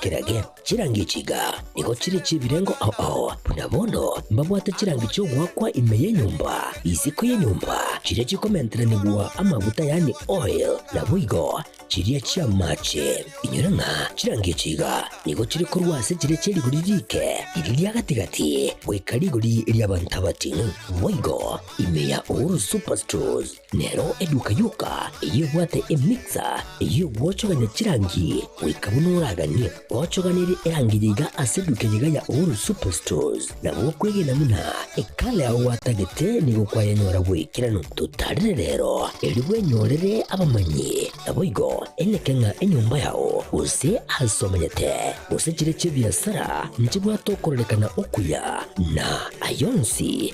Kirage, chirangi echi iga nigo chire chi'ebirengo ao ao, buna bono mbabwate chirangi chi'ogoakwa ime y'enyomba, isiko y'enyomba, chiria chikomenteranigwa amaguta yaani oil, naboigo chiria chi'amaache. Inyore ng'a chirangi echi iga nigo chire korwa ase chire chie rigori riike iri ria gati-gati goika rigori ri'abanto abating'u, boigo ime ya Uhuru Superstores. Nero eduka yoka eyebwate emixer eyio gwochogania chirangi goika buna oraganie gochoganirie erangi yaiga ase eduka eyega ya Uhuru Superstores. Na gokwegena buna ekala yao gwatagete nigo kwayanyora bwekerano. Totarire rero erio bwenyorere abamanyi, naboigo eneke ng'a enyomba yao, gose aase omanyete, gose chire chi'ebiasara nchibwate okororekana okuya, na ayio onsi,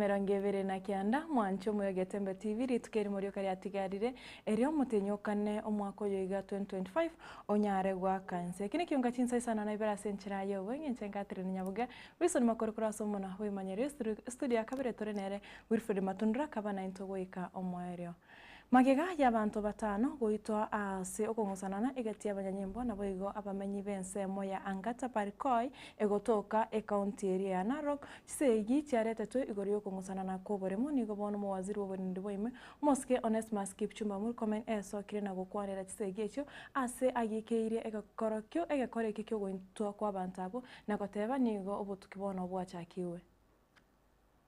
Aya emerongo ebere na kianda, mwanche omoyo Getembe TV, rituko eri morioka riatigarire, erio motenyokane omwaka oyo iga 2025 onyare goaka ense. Eki nekiunga chinsa isano na ibere ase enchera ya obo, eng'encho ya Catherine Nyabuge, Wilson Makori korwa ase omona bw'emanyero ya Studio ya kabere tore nere Wilfred Matundura kaba nainto goika omoerio. Magega y'abanto batano goitwa aase okong'usanana egati y'abanyanyimbo naboigo abamenyi b'ensemo ya Angata Parikoi egotoka ekaunti eria ya Narok. Chisegi chiaretetwe igoro y'okong'usanana kw'oboremu nigo bono omowaziri bw'oborindi bwaime omosike Onesmus Kipchumba Murkomen esokire na gokwanera chisegi echio aase agiikeirie egekorokio egekora ekio ki'ogoitwa kw'abanto abwo na goteba nigo obotuki bono bwachakigwe.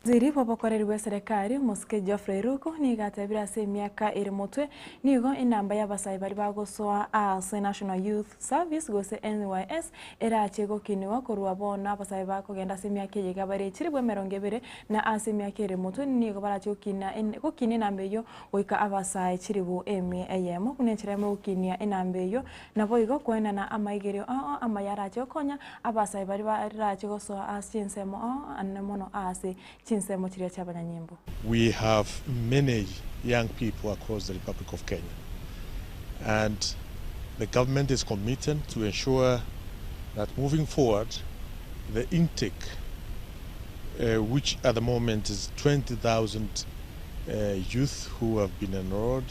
Owaziri bw'obokoreri bw'eserekari, Omosike Geoffrey Ruku, nigo atebire ase emiaka ere motwe nigo enamba y'abasae baria bagosoa aase National Youth Service gose NYS erachie gokinigwa korwa bono abasae bakogenda ase emiaka eye iga bare chilifu emerongo ebere na aase emiaka ere motwe nigo barachie gokina gokina enamba eyio goika abasae chilifu emi eyemo buna enchera y'ogokinia enamba eyio Naboigo kwenena amaigerio ao amaya arache gokonya abasae baria barache gosoa ase ensemo ao anene mono aase chinsemo chiria chiabanyanyimbo. We have many young people across the Republic of Kenya and the government is committed to ensure that moving forward the intake which at the moment is 20,000 youth who have been enrolled,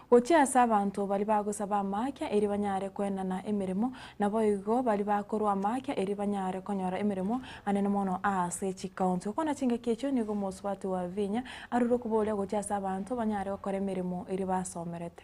Gochia ase abanto baria bagosaba amaakia erio banyare koenana emeremo, naboigo baria bakorwa amaakia erio banyare konyora emeremo anene mono aase chikaunti. Gokwana chingaki echio nigo omosubati wa vinya arure okoboria gochia ase abanto banyare gokora emeremo eria basomerete.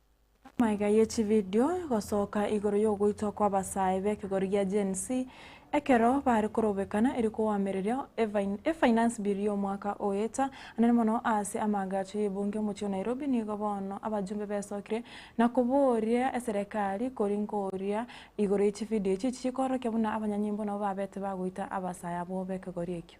Amaiga ye chividio gosoka igoro yogoitwa kwa abasae b'ekegori gia Gen Z ekero bare korobekana eri koamereria e finance bill y'omwaka oeta anene mono ase amaagacho y'ebunge omochie o Nairobi nigo bono abajumbe besokire na koboria eserekari kori nkoria igoro ye chividio echi echi chikoorokia buna abanyanyimbo nabo babete bagoita abasae abwo b'ekegori ekio.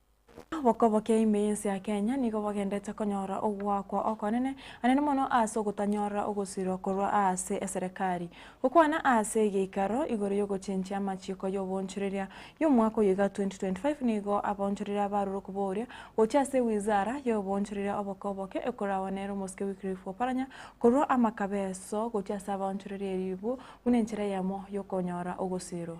Obokobokia ime y'ense ya Kenya nigo bogendete konyora ogoakwa okonene anene mono aase ogotanyorora ogosirwa korwa aase eserekari. Gokwana aase egeikaro igoro y'ogochenchia amachiiko y'oboonchoreria y'omwaka oyo iga 2025 nigo aboonchoreria abarure kobooria gochia ase ewizara y'oboonchoreria obokobokia ekorawa nere omosike Wycliffe Oparanya korwa amakabeso gochia ase abaonchoreria eribu buna enchera eyemo y'okonyora ogosirwa.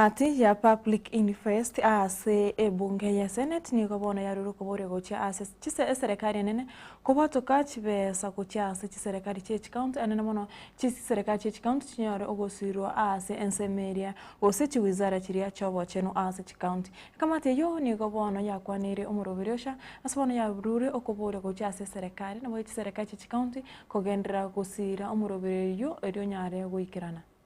Egati ya Public Inquest ase ebunge ye Senate nigo bono yarure okoboria gochia ase chise eserekari enene kobwatoka chibesa gochia ase chiserekari chie chikaunti anene mono chiserekari chie chikaunti chinyore ogosirwa ase ensemo eria gose chiwizara chiria chiobochenu ase chikaunti. Ekamati eyio nigo bono yakwaneire omoroberi ocha ase bono yarure okoboria gochia ase eserekari nabo echiserekari chie chikaunti kogenderera gosira omoroberi oyio erio onyare goikerana.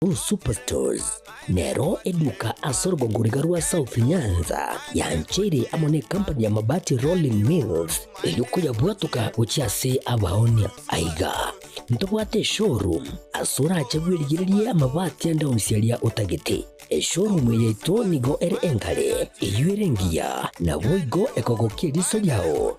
Blue Superstores nero eduka ase orogongo riga rwa South Nyanza yancheire amo ne company ya Mabati Rolling Mills erio koyabwatoka gochia ase abaonia. Aiga ntobwate eshowroom ase orache bwerigererie amabati ande onsi aria otagete. Eshowroom eye yaito nigo ere engare, eyio ere engiya, naboigo ekogokia eriso riao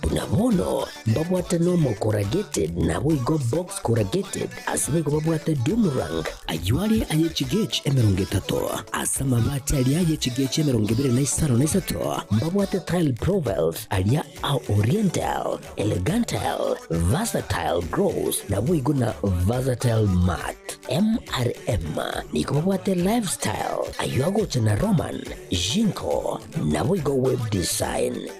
Buna bono mbabwate Normal Corrugated naboigo Box Corrugated, ase boigo babwate Dumrang, ayio are aye chigechi emerongo etato, ase amabati aria aye chigechi emerongo ebere na isano na isato mbabwate Tile Provelt, aria a Oriental, Elegantal, Versatile Gross naboigo na Versatile Mat. MRM nigo babwate Lifestyle, ayio agocha na Roman, Jinko naboigo Web Design.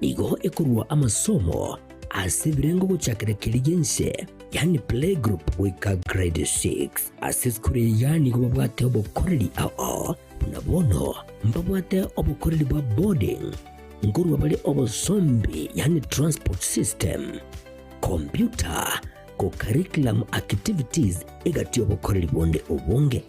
Nigo ekorua amasomo ase ebirengo gochakera keri gense, yani playgroup goika grade 6. Ase esukuru eya nigo babwate obokoreri ao, buna bono mbabwate obokoreri bwa boarding nkorwa bare obosombi yani transport system, computer, co curriculum activities egati obokoreri bonde obonge.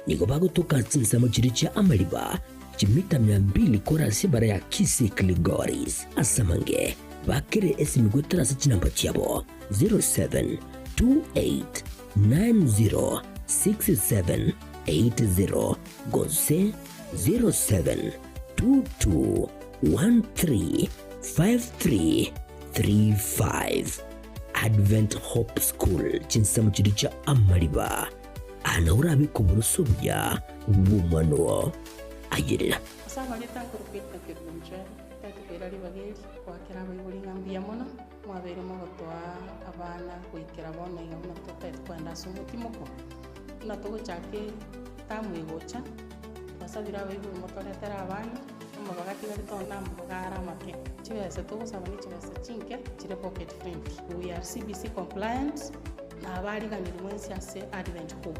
Nigo bagotoka chinsemo chiria chia amariba chimita mia mbili kore ase ebara ya Kisiklgoris, ase amange bakere esemi goetera ase chinamba chiabo, 0728906780 gose 0722135335. Advent Hope School, chinsemo chiria chia amariba. Aa nao orabe koboroso buya bw'omwana oo ayerera. Ase amagete akorokwa ebitakero inche ntaete koira ribaga eri goakera abaibori ng'a mbuya mono mwabeire mogotoa abana goikera bono iga buna totaete kogenda ase omotimoko. Buna togochaka etamu egocha, twasabire abaibori motoretere abana, Amaboko atigare tore namaboko are amake. Chibesa togosaba ne chibesa chinke chire pocket friendly. We are CBC compliant na abariganire mwensi ase Advent Hope.